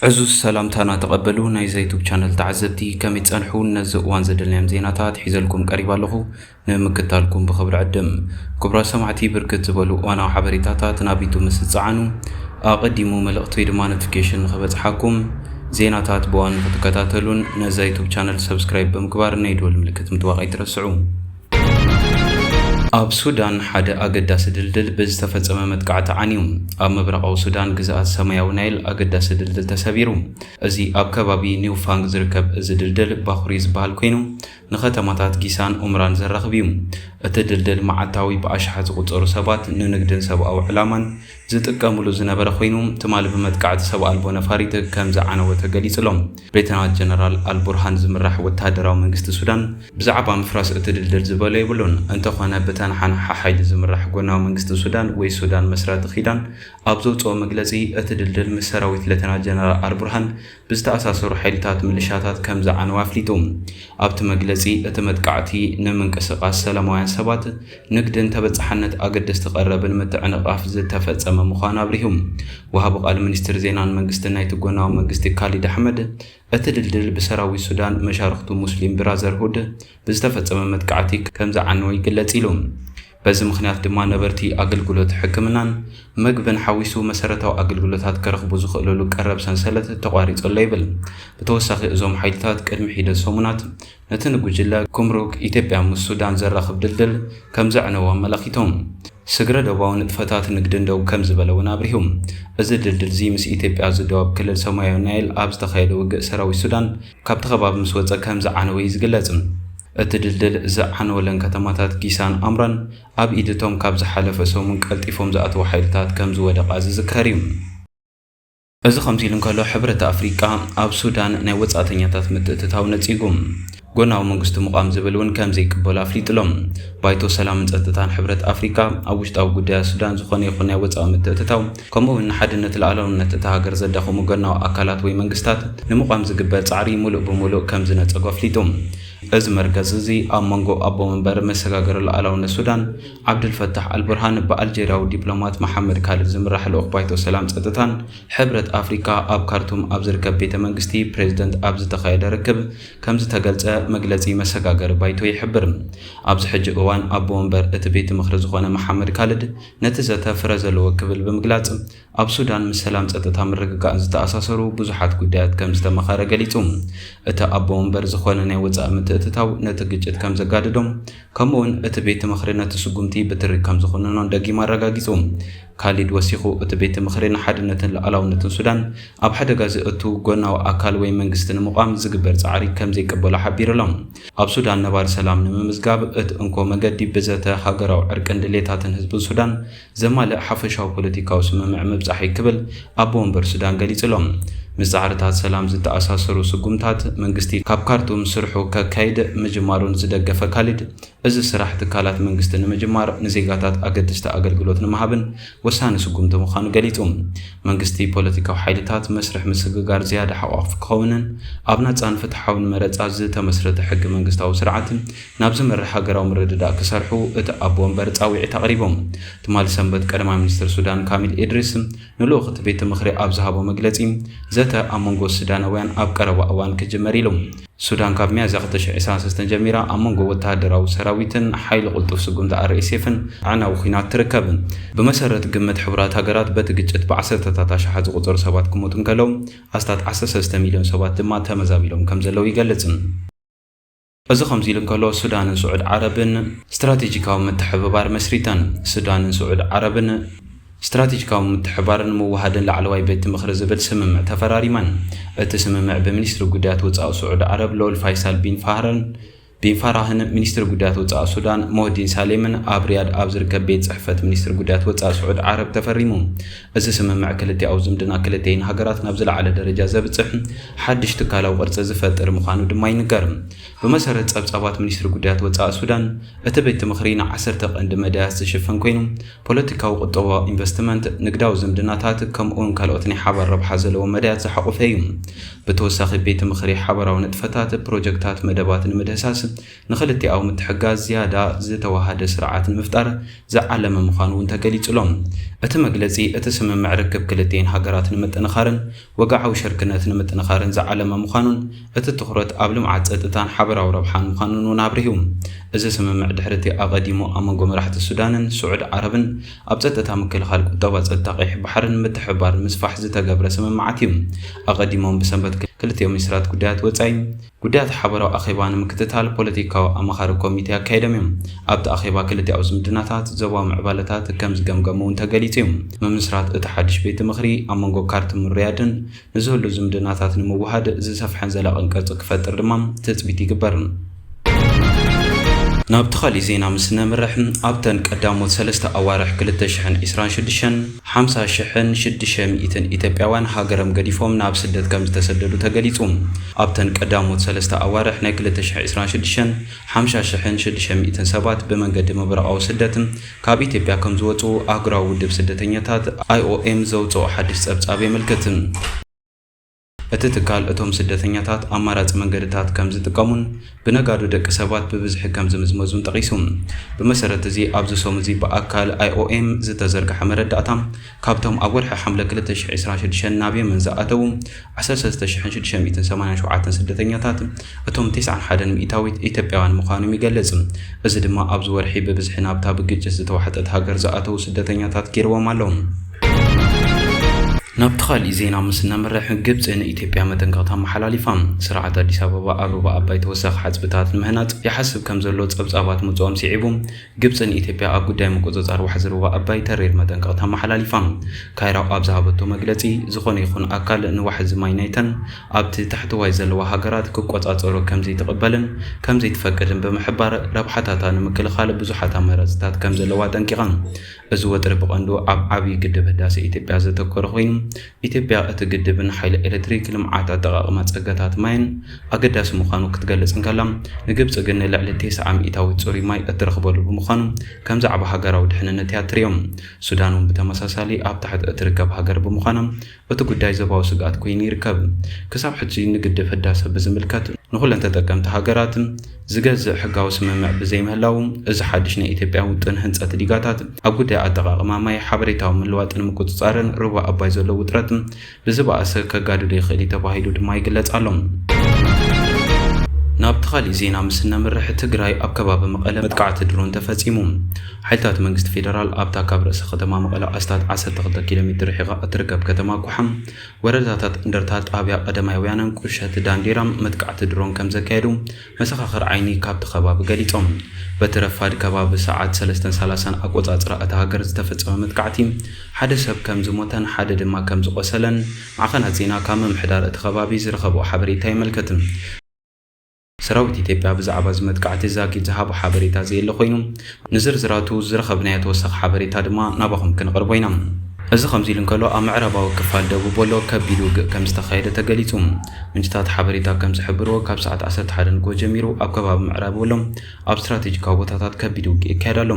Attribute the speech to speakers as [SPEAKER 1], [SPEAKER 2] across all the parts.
[SPEAKER 1] ዕዙዝ ሰላምታና ተቐበሉ ናይዛ ዩቱብ ቻነል ተዓዘብቲ ከመይ ትጸንሑ ነዚ እዋን ዘደልናዮም ዜናታት ሒዘልኩም ቀሪብ ኣለኹ ንምክታልኩም ብኽብሪ ዕድም ክቡራ ሰማዕቲ ብርክት ዝበሉ እዋናዊ ሓበሬታታት ናብ ዩቱብ ምስ ዝጸዓኑ ኣቐዲሙ መልእኽቲ ወይ ድማ ኖቲፊኬሽን ንኽበጽሓኩም ዜናታት ብዋኑ ክትከታተሉን ነዛ ዩቱብ ቻነል ሰብስክራይብ ብምግባር ናይ ደወል ምልክት ምጥዋቕ ኣይትረስዑ ኣብ ሱዳን ሓደ ኣገዳሲ ድልድል ብዝተፈጸመ መጥቃዕቲ ዓንዩ። ኣብ ምብራቓዊ ሱዳን ግዝኣት ሰማያዊ ናይል ኣገዳሲ ድልድል ተሰቢሩ። እዚ ኣብ ከባቢ ኒውፋንግ ዝርከብ እዚ ድልድል ባኹሪ ዝበሃል ኮይኑ ንከተማታት ጊሳን ኡምራን ዘራኽብ እዩ። እቲ ድልድል መዓልታዊ ብኣሽሓት ዝቑጸሩ ሰባት ንንግድን ሰብኣዊ ዕላማን ዝጥቀምሉ ዝነበረ ኮይኑ ትማሊ ብመጥቃዕቲ ሰብ ኣልቦ ነፋሪት ከም ዝዓነወ ተገሊጹ ኣሎ። ብሌተናል ጀነራል ኣል ቡርሃን ዝምራሕ ወተሃደራዊ መንግስቲ ሱዳን ብዛዕባ ምፍራስ እቲ ድልድል ዝበሎ የብሉን። እንተኾነ ብተነሓናሒ ሓይሊ ዝምራሕ ጎናዊ መንግስቲ ሱዳን ወይ ሱዳን መስራቲ ኪዳን ኣብ ዘውጽኦ መግለጺ እቲ ድልድል ምስ ሰራዊት ሌተናል ጀነራል ኣል ቡርሃን ብዝተኣሳሰሩ ሓይልታት ምልሻታት ከም ዝዓነወ ኣፍሊጡ። ኣብቲ መግለጺ፣ እቲ መጥቃዕቲ ንምንቅስቓስ ሰላማውያን ሰባት፣ ንግድን ተበጻሕነት ኣገደስቲ ቀረብን ምትዕንቓፍ ዝተፈጸመ ምዃኑ ኣብሪሁ። ወሃቢ ቃል ሚኒስትሪ ዜናን መንግስትን ናይቲ ጎናዊ መንግስቲ ካሊድ ኣሕመድ፣ እቲ ድልድል ብሰራዊት ሱዳን መሻርኽቱ ሙስሊም ብራዘርሁድ ብዝተፈጸመ መጥቃዕቲ ከም ዝዓነወ ይግለጽ ኢሉ። በዚ ምኽንያት ድማ ነበርቲ ኣገልግሎት ሕክምናን መግብን ሓዊሱ መሰረታዊ ኣገልግሎታት ከረኽቡ ዝኽእልሉ ቀረብ ሰንሰለት ተቋሪጹ ኣሎ ይብል። ብተወሳኺ እዞም ሓይልታት ቅድሚ ሒደት ሰሙናት ነቲ ንጉጅለ ጉምሩክ ኢትዮጵያ ምስ ሱዳን ዘራኽብ ድልድል ከምዘዕነዎ ኣመላኺቶም። ስግረ ዶባዊ ንጥፈታት ንግድን ደው ከምዝበለ እውን ኣብሪሁ። እዚ ድልድል'ዚ ምስ ኢትዮጵያ ዝደወብ ክልል ሰማያዊ ናይል ኣብ ዝተኻየደ ውግእ ሰራዊት ሱዳን፣ ካብቲ ከባቢ ምስ ወጸ ከም ዝዓነወ እዩ ዝግለጽ። እቲ ድልድል ዝዓነወለን ከተማታት ጊሳን ኣምራን ኣብ ኢድ እቶም ካብ ዝሓለፈ ሰሙን ቀልጢፎም ዝኣተዉ ሓይልታት ከም ዝወደቓ ዝዝከር እዩ። እዚ ከምዚ ኢሉ እንከሎ፣ ሕብረት ኣፍሪቃ ኣብ ሱዳን ናይ ወጻእተኛታት ምትእትታው ነጺጉ ጎናዊ መንግስቲ ምቛም ዝብል እውን ከም ዘይቅበሎ ኣፍሊጡ ኣሎ። ባይቶ ሰላምን ጸጥታን ሕብረት ኣፍሪቃ ኣብ ውሽጣዊ ጉዳያት ሱዳን ዝኾነ ይኹን ናይ ወጻኢ ምትእትታው ከምኡ'ውን ንሓድነት ልኣላውነት እታ ሃገር ዘዳኽሙ ጎናዊ ኣካላት ወይ መንግስታት ንምቛም ዝግበር ጻዕሪ ምሉእ ብምሉእ ከም ዝነጸጎ ኣፍሊጡ። እዚ መርገጺ እዚ ኣብ መንጎ ኣቦ መንበር መሰጋገሪ ልኣላውነት ሱዳን ዓብደል ፈታሕ ኣልቡርሃን ብኣልጀርያዊ ዲፕሎማት መሓመድ ካልድ ዝምራሕ ልኡኽ ባይቶ ሰላም ጸጥታን ሕብረት ኣፍሪቃ ኣብ ካርቱም ኣብ ዝርከብ ቤተ መንግስቲ ፕሬዝደንት ኣብ ዝተኻየደ ርክብ ከም ዝተገልጸ መግለጺ መሰጋገሪ ባይቶ ይሕብር። ኣብዚ ሕጂ እዋን ኣቦ መንበር እቲ ቤት ምኽሪ ዝኾነ መሓመድ ካልድ ነቲ ዘተ ፍረ ዘለዎ ክብል ብምግላጽ፣ ኣብ ሱዳን ምስ ሰላም ጸጥታ ምርግጋእን ዝተኣሳሰሩ ብዙሓት ጉዳያት ከም ዝተመኸረ ገሊጹ። እቲ ኣቦ ወንበር ዝኾነ ናይ ወጻኢ ምትእትታው ነቲ ግጭት ከም ዘጋድዶ ከምኡ'ውን እቲ ቤት ምኽሪ ነቲ ስጉምቲ ብትሪ ከም ዝኹንኖን ደጊሙ ኣረጋጊጹ። ካሊድ ወሲኹ እቲ ቤት ምኽሪ ንሓድነትን ሉኣላውነትን ሱዳን ኣብ ሓደጋ ዘእቱ ጎናዊ ኣካል ወይ መንግስቲ ንምቛም ዝግበር ጻዕሪ ከም ዘይቅበሎ ሓቢሩ'ሎ። ኣብ ሱዳን ነባሪ ሰላም ንምምዝጋብ እት እንኮ መገዲ ብዘተ ሃገራዊ ዕርቅን ድሌታትን ህዝብን ሱዳን ዘማልእ ሓፈሻዊ ፖለቲካዊ ስምምዕ ምብጻሕ'ዩ ክብል ኣቦ ወንበር ሱዳን ገሊጹ ኣሎ። ምስ ጻዕርታት ሰላም ዝተኣሳሰሩ ስጉምታት መንግስቲ ካብ ካርቱም ስርሑ ከካይድ ምጅማሩን ዝደገፈ ካሊድ፣ እዚ ስራሕ ትካላት መንግስቲ ንምጅማር፣ ንዜጋታት ኣገድስቲ ኣገልግሎት ንምሃብን ወሳኒ ስጉምቲ ምዃኑ ገሊጹ። መንግስቲ ፖለቲካዊ ሓይልታት መስርሕ ምስግጋር ዝያዳ ሓቋፍፍ ክኸውንን ኣብ ናጻን ፍትሓውን መረጻ ዝተመስረተ ሕገ መንግስታዊ ስርዓት ናብ ዝመርሕ ሃገራዊ ምርድዳእ ክሰርሑ እቲ ኣቦ ወንበር ጻውዒት ኣቕሪቦም። ትማሊ ሰንበት ቀዳማይ ሚኒስትር ሱዳን ካሚል ኢድሪስ ንልኡኽ እቲ ቤት ምኽሪ ኣብ ዝሃቦ መግለጺ ዘተ ኣብ መንጎ ስዳናውያን ኣብ ቀረባ እዋን ክጅመር ኢሉ ሱዳን ካብ ሚያዝያ ክልተ ሽሕ ዕስራን ሰለስተን ጀሚራ ኣብ መንጎ ወተሃደራዊ ሰራዊትን ሓይሊ ቅልጡፍ ስጉምቲ ኣርኤስኤፍን ኣዕናዊ ኲናት ትርከብ። ብመሰረት ግምት ሕቡራት ሃገራት በቲ ግጭት ብዓሰርተታት ኣሽሓት ዝቑጸሩ ሰባት ክሞቱ እንከለዉ ኣስታት ዓሰርተ ሰለስተ ሚልዮን ሰባት ድማ ተመዛቢሎም ከምዘለዉ ይገልጽ። እዚ ከምዚ ኢሉ እንከሎ ሱዳንን ስዑድ ዓረብን ስትራቴጂካዊ ምትሕብባር መስሪተን። ሱዳንን ስዑድ ዓረብን። ስትራቴጂካዊ ምትሕብባርን ምውህሃድን ላዕለዋይ ቤት ምኽሪ ዝብል ስምምዕ ተፈራሪመን። እቲ ስምምዕ ብሚኒስትሪ ጉዳያት ወፃኢ ስዑዲ ዓረብ ልዑል ፋይሳል ቢን ፋህርን ቢን ፋራህን ሚኒስትሪ ጉዳያት ወፃኢ ሱዳን ሞህዲን ሳሌምን ኣብ ሪያድ ኣብ ዝርከብ ቤት ፅሕፈት ሚኒስትሪ ጉዳያት ወፃኢ ስዑዲ ዓረብ ተፈሪሙ። እዚ ስምምዕ ክልቲኣዊ ዝምድና ክልቲኣይን ሃገራት ናብ ዝለዓለ ደረጃ ዘብፅሕ ሓድሽ ትካላዊ ቅርፂ ዝፈጥር ምዃኑ ድማ ይንገር። ብመሰረት ጸብጻባት ሚኒስትሪ ጉዳያት ወጻኢ ሱዳን፣ እቲ ቤት ምኽሪ ንዓሰርተ ቀንዲ መዳያት ዝሽፍን ኰይኑ፣ ፖለቲካዊ፣ ቁጠባዊ፣ ኢንቨስትመንት፣ ንግዳዊ ዝምድናታት፣ ከምኡ'ውን ካልኦት ናይ ሓባር ረብሓ ዘለዎም መዳያት ዝሓቖፈ እዩ። ብተወሳኺ፣ ቤት ምኽሪ ሓባራዊ ንጥፈታት፣ ፕሮጀክታት፣ መደባት ንምድህሳስ ንኽልቲኣዊ ምትሕግጋዝ ዝያዳ ዝተዋሃደ ስርዓት ንምፍጣር ዝዓለመ ምዃኑ'ውን ተገሊጹ'ሎ። እቲ መግለጺ፣ እቲ ስምምዕ ርክብ ክልቲኤን ሃገራት ንምጥንኻርን፣ ወግዓዊ ሽርክነት ንምጥንኻርን ዝዓለመ ምዃኑን እቲ ትኹረት ኣብ ልምዓት፣ ፀጥታን ሓበራዊ ረብሓን ምዃኑን እውን ኣብሪሁ። እዚ ስምምዕ ድሕሪ እቲ ኣቐዲሙ ኣብ መንጎ መራሕቲ ሱዳንን ስዑድ ዓረብን ኣብ ፀጥታ፣ ምክልኻል፣ ቁጠባ፣ ፀጥታ ቀይሕ ባሕርን ምትሕብባር ንምስፋሕ ዝተገብረ ስምምዓት እዩ። ኣቐዲሞም ብሰንበት ክልቲኦም ሚኒስትራት ጉዳያት ወፃኢ፣ ጉዳያት ሓበራዊ ኣኼባ ንምክትታል ፖለቲካዊ ኣማኻሪ ኮሚቴ ኣካይዶም እዮም። ኣብቲ ኣኼባ ክልቲኣዊ ዝምድናታት፣ ዞባዊ ምዕባለታት ከም ዝገምገሙ እውን ተገሊፁ እዩ። ምምስራት እቲ ሓድሽ ቤት ምኽሪ ኣብ መንጎ ካርቱምን ሪያድን ንዝህሉ ዝምድናታት ንምውሃድ ዝሰፍሐን ዘላቕን ቅርፂ ክፈጥር ድማ ትፅቢት ይግበር። ናብቲ ካሊእ ዜና ምስ ነምርሕ ኣብተን ቀዳሞት ሰለስተ ኣዋርሕ ክልተ ሽሕን ዒስራን ሽዱሽተን፣ ሓምሳ ሽሕን ሽድሸ ሚእትን ኢትዮጵያውያን ሃገርም ገዲፎም ናብ ስደት ከምዝተሰደዱ ተገሊጹ። ኣብተን ቀዳሞት ሰለስተ ኣዋርሕ ናይ ክልተ ሽሕ ዕስራን ሽድሽተን፣ ሓምሻ ሽሕን ሽድሸ ሚእትን ሰባት ብመንገዲ ምብራቓዊ ስደት ካብ ኢትዮጵያ ከምዝወጽኡ ኣህጉራዊ ውድብ ስደተኛታት፣ IOM፣ ዘውጽኦ ሓድሽ ጸብጻብ የመልክት። እቲ ትካል እቶም ስደተኛታት ኣማራፂ መንገድታት ከም ዝጥቀሙን ብነጋዶ ደቂ ሰባት ብብዝሒ ከም ዝምዝመዙን ጠቒሱ። ብመሰረት እዚ ኣብዚ ሶም እዚ ብኣካል IOM ዝተዘርግሐ መረዳእታ ካብቶም ኣብ ወርሒ ሓምለ ክልተ ሽሕ ዕስራን ሽዱሽተን ናብ የመን ዝኣተዉ ዓሰርተ ሰለስተ ሽሕን ሽዱሽተ ሚእትን ሰማንያን ሸውዓተን ስደተኛታት እቶም ቴስዓን ሓደን ሚኢታዊት ኢትዮጵያውያን ምዃኖም ይገልጽ። እዚ ድማ ኣብዚ ወርሒ ብብዝሒ ናብታ ብግጭት ዝተዋሕጠት ሃገር ዝኣተዉ ስደተኛታት ገይርዎም ኣሎ። ናብቲ ካሊእ ዜና ምስ እነምርሕ፣ ግብጺ ንኢትዮጵያ መጠንቀቕታ ኣመሓላሊፋ። ስርዓት ኣዲስ ኣበባ ኣብ ሩባ ኣባይ ተወሳኺ ሓጽብታት ንምህናጽ ይሓስብ ከም ዘሎ ጸብጻባት ምውጽኦም ስዒቡ፣ ግብጺ ንኢትዮጵያ ኣብ ጉዳይ ምቁጽጻር ዋሕዚ ሩባ ኣባይ ተሪር መጠንቀቕታ ኣመሓላሊፋ። ካይሮ ኣብ ዝሃበቶ መግለጺ፣ ዝኾነ ይኹን ኣካል ንዋሕዚ ማይ ናይተን ኣብቲ ታሕተዋይ ዘለዋ ሃገራት ክቆጻጸሩ ከም ዘይትቕበልን ከም ዘይትፈቅድን ብምሕባር፣ ረብሓታታ ንምክልኻል ብዙሓት ኣማራጺታት ከም ዘለዋ ኣጠንቂቓ። እዚ ወጥሪ ብቐንዱ ኣብ ዓብዪ ግድብ ህዳሰ ኢትዮጵያ ዘተኮረ ኮይኑ፣ ኢትዮጵያ እቲ ግድብን ሓይሊ ኤሌክትሪክ፣ ልምዓት ኣጠቓቕማ ጸጋታት ማይን ኣገዳሲ ምዃኑ ክትገልጽ እንከላ፣ ንግብጺ ግን ንልዕሊ ቴስዓ ሚእታዊት ጽሩይ ማይ እትረኽበሉ ብምዃኑ ከም ዛዕባ ሃገራዊ ድሕንነት እያ እትርእዮ። ሱዳን እውን ብተመሳሳሊ ኣብ ታሕቲ እትርከብ ሃገር ብምዃና፣ እቲ ጉዳይ ዞባዊ ስግኣት ኮይኑ ይርከብ። ክሳብ ሕጂ ንግድብ ህዳሰ ብዝምልከት ንኹለን ተጠቀምቲ ሃገራት ዝገዝእ ሕጋዊ ስምምዕ ብዘይምህላዉ፣ እዚ ሓድሽ ናይ ኢትዮጵያ ውጥን ህንፀት ዲጋታት ኣብ ጉዳይ ኣጠቓቕማ ማይ፣ ሓበሬታዊ ምልዋጥን ምቁፅፃርን ሩባ ኣባይ ዘሎ ውጥረት ብዝበኣሰ ከጋድዶ ይኽእል እዩ ተባሂሉ ድማ ይግለፅ ኣሎ። ናብቲ ካሊእ ዜና ምስ እነምርሕ፣ ትግራይ ኣብ ከባቢ መቐለ መጥቃዕቲ ድሮን ተፈፂሙ። ሓይልታት መንግስቲ ፌደራል ኣብታ ካብ ርእሰ ከተማ መቐለ ኣስታት ዓሰርተ ክልተ ኪሎ ሜትር ርሒቓ እትርከብ ከተማ ኲሓም፣ ወረዳታት እንደርታ፣ ጣብያ ቀደማይ ወያነን ቁሸት ዳንዴራን መጥቃዕቲ ድሮን ከምዘካየዱ መሰኻኽር ዓይኒ ካብቲ ከባቢ ገሊፆም። በቲ ረፋድ ከባቢ ሰዓት ሰለስተን ሰላሳን ኣቆፃፅራ እታ ሃገር ዝተፈፀመ መጥቃዕቲ ሓደ ሰብ ከምዝሞተን ሓደ ድማ ከምዝቖሰለን ማዕኸናት ዜና ካብ ምምሕዳር እቲ ከባቢ ዝረኸብኦ ሓበሬታ የመልክት። ሰራዊት ኢትዮጵያ ብዛዕባ እዚ መጥቃዕቲ ዛጊት ዝሃቦ ሓበሬታ ዘየለ ኮይኑ፣ ንዝርዝራቱ ዝረኸብናዮ ተወሳኺ ሓበሬታ ድማ ናባኹም ክንቕርቦ ኢና። እዚ ከምዚ ኢሉ እንከሎ፣ ኣብ ምዕራባዊ ክፋል ደቡብ ወሎ ከቢድ ውግእ ከምዝተኻየደ ተገሊጹ። ምንጭታት ሓበሬታ ከምዝሕብርዎ፣ ካብ ሰዓት ዓሰርተ ሓደ ንግሆ ጀሚሩ ኣብ ከባቢ ምዕራብ ወሎ፣ ኣብ ስትራቴጂካዊ ቦታታት ከቢድ ውግእ ይካየድ ኣሎ።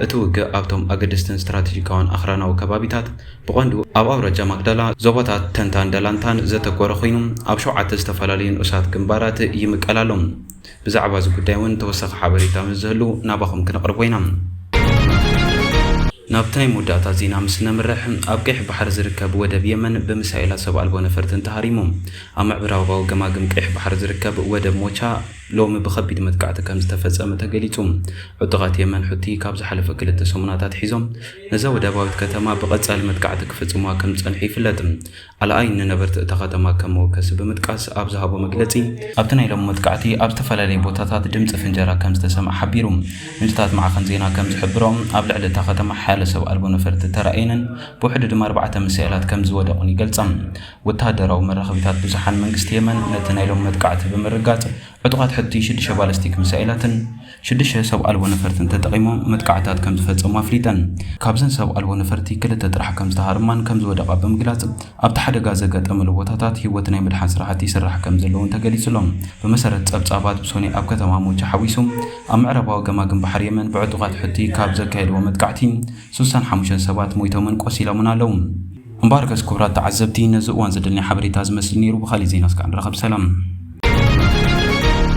[SPEAKER 1] እቲ ውግእ ኣብቶም ኣገደስትን ስትራቴጂካውን ኣኽራናዊ ከባቢታት፣ ብቐንዱ ኣብ ኣውራጃ ማግዳላ፣ ዞባታት ተንታን ደላንታን ዘተኮረ ኮይኑ፣ ኣብ ሸውዓተ ዝተፈላለዩ ንኡሳት ግንባራት ይምቀል ኣሎ። ብዛዕባ እዚ ጉዳይ እውን ተወሳኺ ሓበሬታ ምስ ዝህሉ ናባኹም ክነቕርቦ ኢና። ናብቲ ናይ መወዳእታ ዜና ምስ ነምርሕ፣ ኣብ ቀይሕ ባሕሪ ዝርከብ ወደብ የመን ብሚሳኤላት ሰብ ኣልቦ ነፈርትን ተሃሪሙ። ኣብ ምዕብራባዊ ገማግም ቀይሕ ባሕሪ ዝርከብ ወደብ ሞቻ፣ ሎሚ ብከቢድ መጥቃዕቲ ከም ዝተፈጸመ ተገሊጹ። ዕጡቓት የመን ሑቲ ካብ ዝሓለፈ ክልተ ሰሙናት ኣትሒዞም ነዛ ወደባዊት ከተማ ብቐጻሊ መጥቃዕቲ ክፍጽሙዋ ከም ዝጸንሑ ይፍለጥ። ኣልኣይን ንነበርቲ እታ ከተማ ከም መወከሲ ብምጥቃስ ኣብ ዝሃቦ መግለጺ፣ ኣብቲ ናይ ሎሚ መጥቃዕቲ ኣብ ዝተፈላለየ ቦታታት ድምጺ ፍንጀራ ከም ዝተሰምዐ ሓቢሩ። ምንጭታት ማዕኸን ዜና ከም ዝሕብርኦ፣ ኣብ ልዕሊ እታ ከተማ ሓያሎ ሰብ ኣልቦ ነፈርቲ ተራእየንን ብውሕዱ ድማ ኣርባዕተ ሚሳኤላት ከም ዝወደቑን ይገልጻ። ወተሃደራዊ መራኸቢታት ብዙሓን መንግስቲ የመን ነቲ ናይ ሎሚ መጥቃዕቲ ብምርጋጽ፣ ዕጡቓት ሑቲ ሽዱሽተ ባለስቲክ ሚሳኤላትን ሽዱሽተ ሰብ ኣልቦ ነፈርትን ተጠቒሞም መጥቃዕትታት ከምዝፈጸሙ ኣፍሊጠን። ካብዘን ሰብ ኣልቦ ነፈርቲ ክልተ ጥራሕ ከምዝተሃርማን ከምዝወደቓ ብምግላጽ፣ ኣብቲ ሓደጋ ዘጋጠመሉ ቦታታት ህይወት ናይ ምድሓን ስራሕቲ ይስራሕ ከምዘሎ'ውን ተገሊጹ'ሎ። ብመሰረት ጸብጻባት ብሶኒ ኣብ ከተማ ሞጃ ሓዊሱ ኣብ ምዕራባዊ ገማግም ባሕሪ የመን ብዕጡቓት ሑቲ ካብ ዘካየድዎ መጥቃዕቲ ሱሳን ሓሙሽተን ሰባት ሞይቶምን ቆሲሎምን ኣለዉ። እምበኣርከስ ክቡራት ተዓዘብቲ ነዚ እዋን ዘደንያ ሓበሬታ ዝመስል ነይሩ ብኻሊእ ዜና እስከ ንራኸብ ሰላም።